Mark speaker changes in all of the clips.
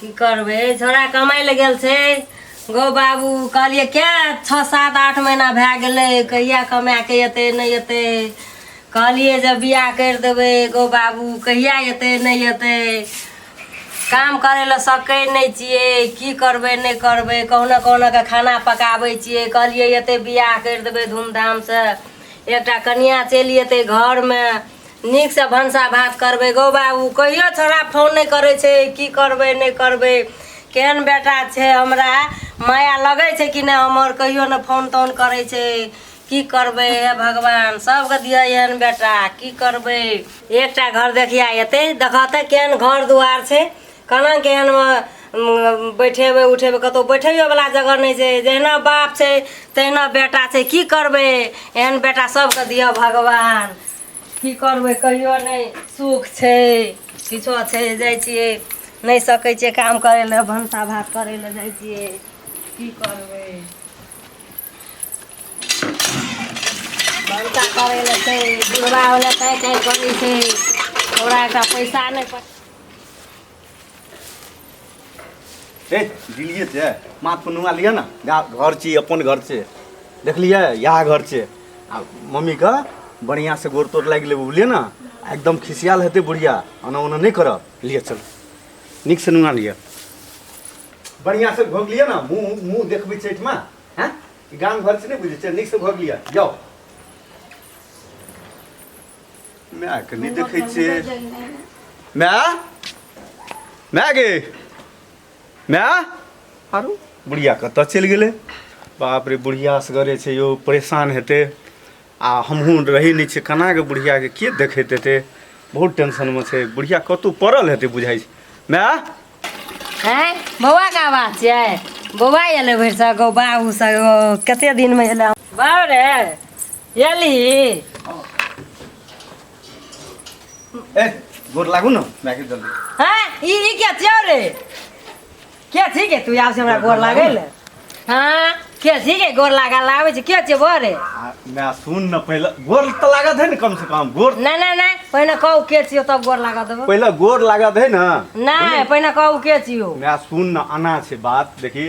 Speaker 1: की
Speaker 2: करबै छोरा कमाइ लए गेल छै गो बाबू कहलियै क्या छओ सात आठ महीना भए गेलै कहिया कमाए कऽ एतै नहि एतै कहलियै जे बियाह करि देबै गो बाबू कहिया एतै नहि एतै काम करै लए सकै नहि छियै की करबै नहि करबै कहुना कहुना कऽ खाना पकाबै छियै कहलियै एतै बियाह करि देबै धूमधामसँ एकटा कनिया चलि एतै घरमे नीकसँ भनसा भात करबै गौ बाबू कहियो छोड़ा फोन नहि करै छै की करबै नहि करबै केहन बेटा छै हमरा माया लगै छै कि नहि हमर कहियो ने फोन तोन करै छै की करबै हे भगवान सबके दिअ एहन बेटा की करबै एकटा घर देखिया एतै देखऽ तऽ केहन घर दुआर छै केना केहन बैठेबै उठेबै कतहु बैठैयोवला जगह नहि छै जहिना बाप छै तहिना बेटा छै की करबै एहन बेटा सबके दिअ भगवान की करबै कहियो नहि सुख छै किछो छै जाइ छियै नहि सकै छियै काम करै लए भनसा भात करै लए जाइ छियै की करबै भनसा करै लए छै बुढ़बा होलै ताहि ताहि करै छै ओकरा एकटा पैसा नहि पड़
Speaker 3: ए दिलिए छै माथ पर नुआ लिअ ने जा घर छी अपन घर छै देखलियै इएह घर छै आ मम्मीके बढ़िआँ से गोड़ तोड़ लागि लेबै बुझलियै ने आ एकदम खिसियाल हेतै बुढ़िया ओना ओना नहि करब लिअ चल नीक से नुआ लिअ बढ़िआँ से घोग लिअ ने मुँह मुँह देखबै चैठमे हैं गाम घर से नहीं बुझे नीक से भोग लिया जाओ माय के नहि देखै छै माय माय गे माय आरो बुढ़िया कतऽ चलि गेलै बाप रे बुढ़िया असगरे छै यौ परेशान हेतै आ हमहूँ रहै नहि छियै केनाके बुढ़ियाके के देखैत हेतै बहुत टेंशनमे छै बुढ़िया कतहु पड़ल हेतै बुझाइ छै माय
Speaker 2: हैं बौआ का आवाज छियै बौआ एलै भरि सगो बाबू सगो कते दिन में एलै बाबू रे ए
Speaker 3: गोर लागू न मैके जल्दी हां ई ई
Speaker 2: क्या थियो रे क्या थी के तू आव से हमरा गोर लागल हां क्या थी के गोर लागा लावे छै क्या छै बोरे मैं सुन
Speaker 3: न पहले गोर त लागत है न कम से कम गोर ना ना ना पहिने
Speaker 2: कहू के छियो तब गोर लागा देबो पहले गोर लागत है
Speaker 3: न ना पहिने कहू
Speaker 2: के छियो मैं सुन न आना
Speaker 3: छै बात देखी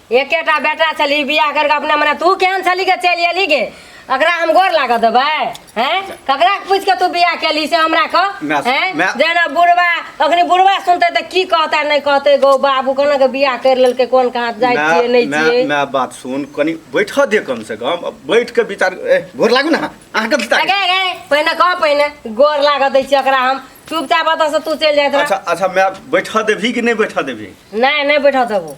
Speaker 2: एकेटा बेटा छली बियाह करके अपने मने तू केहन छली के चलि एली गे अकरा हम गोर लागऽ देबै हैं ककरा पूछि के तू बियाह केली से हमरा कह माय- हैं माय- जेना बुढ़वा अखनी बुढ़वा सुनते तऽ की कहता नहि कहते गौ बाबू कोना के बियाह कर लेलकै कोन कहाँ जाइ छियै नहि मैं छियै मैं बात सुन कनी
Speaker 3: बैठ दे कम से कम अब बैठ के विचार ए, गोर लागू ना अहाँ कब तक गे गे पहिने कह
Speaker 2: पहिने गोर लागऽ दै छियै ओकरा हम चुपचाप ओतऽ से तू चलि जाइत रह अच्छा अच्छा मैं बैठ
Speaker 3: देबही कि नहीं बैठ देबही नहि नहि बैठऽ देबो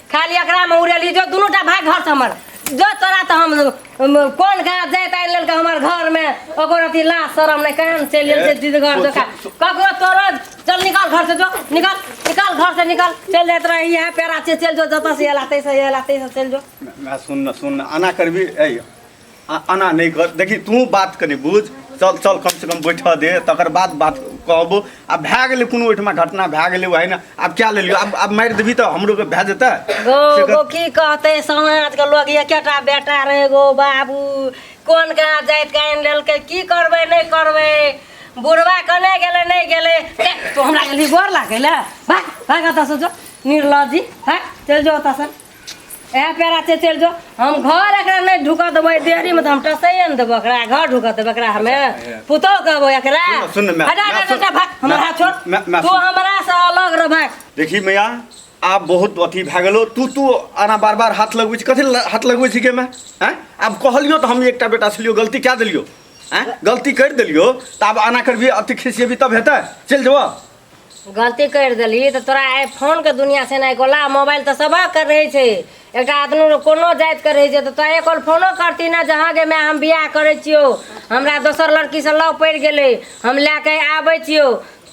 Speaker 2: खाली एकरा में उड़ेली जो दोनों टा भाग घर से हमर जो तोरा तो हम हम कोन गाछ जाय तार लेल के हमर घर में ओकर अथी लाज शरम नहीं कहन चल लेल जे दीद घर जो का ककरो तोरो चल निकाल घर से जो निकाल निकाल घर से निकाल चल जात रह इहे पेरा से चल जो जत से एला तै से एला तै से चल जो ना सुन ना सुन
Speaker 3: ना आना करबी ऐ आ- एना नहि कर देखी तू बात कनी बुझ चल चल कम से कम बैठऽ दे तकर बाद बात कहबो आ भए गेलै कोनो ओहिठमा घटना भए गेलै वही ने आब क्या लेलियो आब आब मारि देबी तऽ हमरो के भए जेतै गो से गो कर- की
Speaker 2: कहते समाज के लोग ये केटा बेटा रहे गो बाबू कोन कहाँ जाइत के आनि लेलकै की करबै नहि करबै बुढ़वा कने गेलै नहि गेलै ते, तू हमरा गेली गोर लागै लए भाग भाग ओतऽसँ जो निर्लजी भाग चलि जो ओतऽसँ ए पेरा से चल जो हम घर एकरा नै ढुका देबै देरी में त हम टसैए न देबै एकरा घर ढुका देबै एकरा हमे पुतो कहबो एकरा सुन, सुन, मैं- हटा मैं- हटा
Speaker 3: हटा भाग
Speaker 2: हमरा मैं- हाथ छोड़ मैं- मैं- तू सुन। हमरा से अलग रह भाग देखी मैया
Speaker 3: आब बहुत अथी भए गेलो तू तू आना बार बार हाथ लगबै छी कथी ल- हाथ लगबै छी के मैं हैं आब कहलियो तऽ हम एकटा बेटा छलियो गलती कए देलियो हैं गलती करि देलियो तऽ आब आना करबी अथी खिसियेबी तब हेतै चलि जेबऽ गलती
Speaker 2: करि देलही तऽ तोरा आइ फोनके दुनिया छै ने कोला मोबाइल तऽ सबक रहै छै एकटा आदमी कोनो जातिके रहै छै तऽ तोहे कॉल फोनो करती ने जहाँ गे माय हम बियाह करै छियौ हमरा दोसर लड़कीसँ लव पड़ि गेलै हम लए कऽ आबै छियौ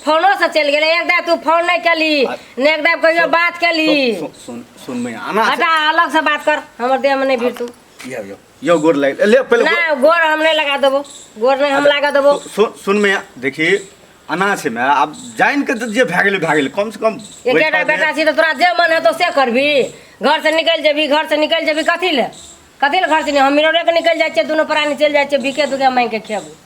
Speaker 2: फोनोसँ चलि गेलै एक दाइ तू फोन नहि केलही ने एक दाइ कहियो बात केलही सुन सुन
Speaker 3: सुन मैया आना हटा अलगसँ बात
Speaker 2: कर हमर देहमे नहि भिड़ तू ये ये यो गोर
Speaker 3: लाग ले पहिले गोर- ना गोर हम नहीं लगा
Speaker 2: देबो गोर नहीं हम लगा देबो सु- सुन सुन में
Speaker 3: देखी अना छै में आब जान के जे भए गेलै भए गेलै कम से कम एक बैठा बेटा दे। बेटा छी तो
Speaker 2: तोरा जे मन है तो से करबी घर से निकल जेबी घर से निकल जेबी कथी ले कथी ले घर से नहीं हम मिररे के निकल जाए दोनों प्राणी चल जाए बिके दुके मांग के खेबू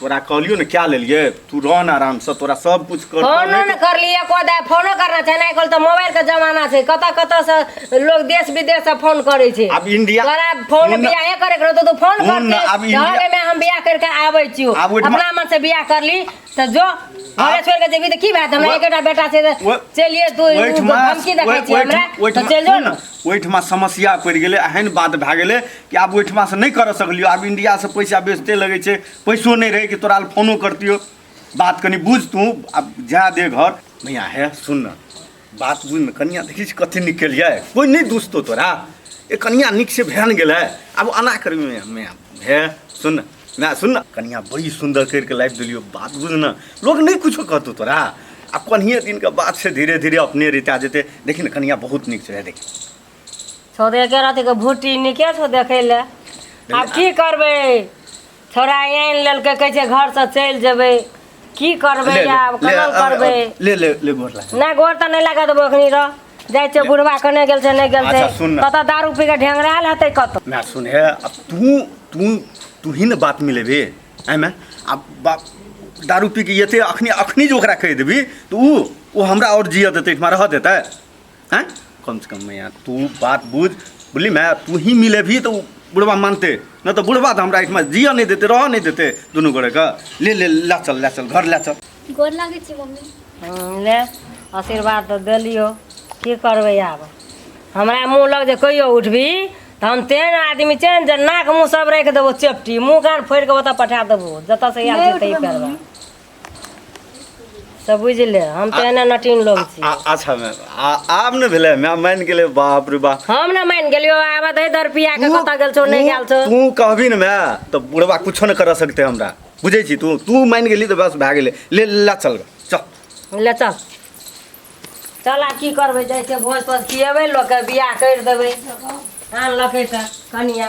Speaker 3: तोरा कहलियो ने क्या लेलिए तू रह ना आराम से तोरा सब कुछ कर फोनो न कर लिए को
Speaker 2: दे फोनो करना छै नै कल त मोबाइल के जमाना छै कत कत से लोग देश विदेश से फोन करे छै अब इंडिया तोरा
Speaker 3: फोन बिया
Speaker 2: हे करे करो तो तू फोन कर दे अब इंडिया में हम बिया करके आबै छी अपना मन से बिया कर ली त जो घरे छोड़ के जेबी त की बात हमरा एकटा बेटा छै चलिए तू धमकी देखै छी हमरा त चल जो न ओइठमा समस्या
Speaker 3: पड़ गेलै एहन बात भए गेलै कि आब ओहिठमासँ नहि करऽ सकलियौ आब इंडियासँ पैसा बेचते लगै छै पैसो नहि रहै कि तोरा लए फोनो करतियौ बात कनि बुझ तू आब जा दे घर मैया हे सुन ने बात बुझ ने कनिया देखी छी कथी नीक केलियै कोइ नहि दुसतो तोरा ए कनिया नीक से भेन गेलै आब अना करबी मैया मैया हे सुन ने मैया सुन ने कनिया बड़ी सुन्दर करि कऽ लाबि देलियौ बात बुझ ने लोक नहि कुछो कहतौ तोरा आ कनिये दिनके बात छै धीरे धीरे अपने रिता जेतै देखी ने कनिया बहुत नीक छै हे देखी छौ तऽ
Speaker 2: एके रति के भुट्टी नीके छौ देखै लए आब की करबै छौड़ा आनि लेलकै कहै छै घर से चलि जेबै की करबै ले, ले, आब ले, केना अब- करबै अब- ले ले ले गोर
Speaker 3: लागे नहि गोर तऽ नहि लगा देबो
Speaker 2: एखनी रह जाइ छै बुढ़वा कने गेल छै नहि गेल छै अच्छा, सुन ने। कतऽ दारू पी के ढेंगरायल हेतै कतऽ मैं सुन है अब
Speaker 3: तू तू तू ही ने बात मिले बे है मैं अब बाप दारू पी के ये थे अखनी अखनी जो ओकरा कह देबी तो ऊ वो हमरा और जिया देते इठमा रह देता है हैं कम से कम मैया तू बात बुझ बुझली मैं तू ही मिले भी तो बुढ़वा मानते न तो बुढ़वा तो हमरा एहिठमा जियऽ नहि देते रहऽ नहि देते दुनू गोरे के ले ले ला चल ला चल घर ला चल गोर लागै छी
Speaker 4: मम्मी हँ, ले
Speaker 2: आशीर्वाद तऽ देलियो की करबै आब हमरा मुँह लग जे कहियो उठबी तऽ हम तेहन आदमी छै ने जे नाक मुँह सब राखि देबो चेपटी मुँह कान फोड़ि कऽ ओतऽ पठा देबो जतऽ से आयल छी तै करबै तऽ बुझि ले हम तऽ एना नटिन लोग आ- छियै आ- अच्छा मैम आ-
Speaker 3: आब ने भेलै मैम मानि गेलै बाप रे बाप हम ने मानि गेलियो
Speaker 2: आब दे दर पिया के कतऽ गेल छौ नहि गेल छौ तू कहबी ने मैं
Speaker 3: तो बुढ़वा कुछो नहीं कर सकते हमरा बुझे छी तू तू मान गेली तो बस भए गेलै ले ला चल गे, चल ले चल चल आब की करबै जाइ छै भोज तोज खियेबै लोकके बियाह
Speaker 2: करि देबै आनलकै तऽ कनिया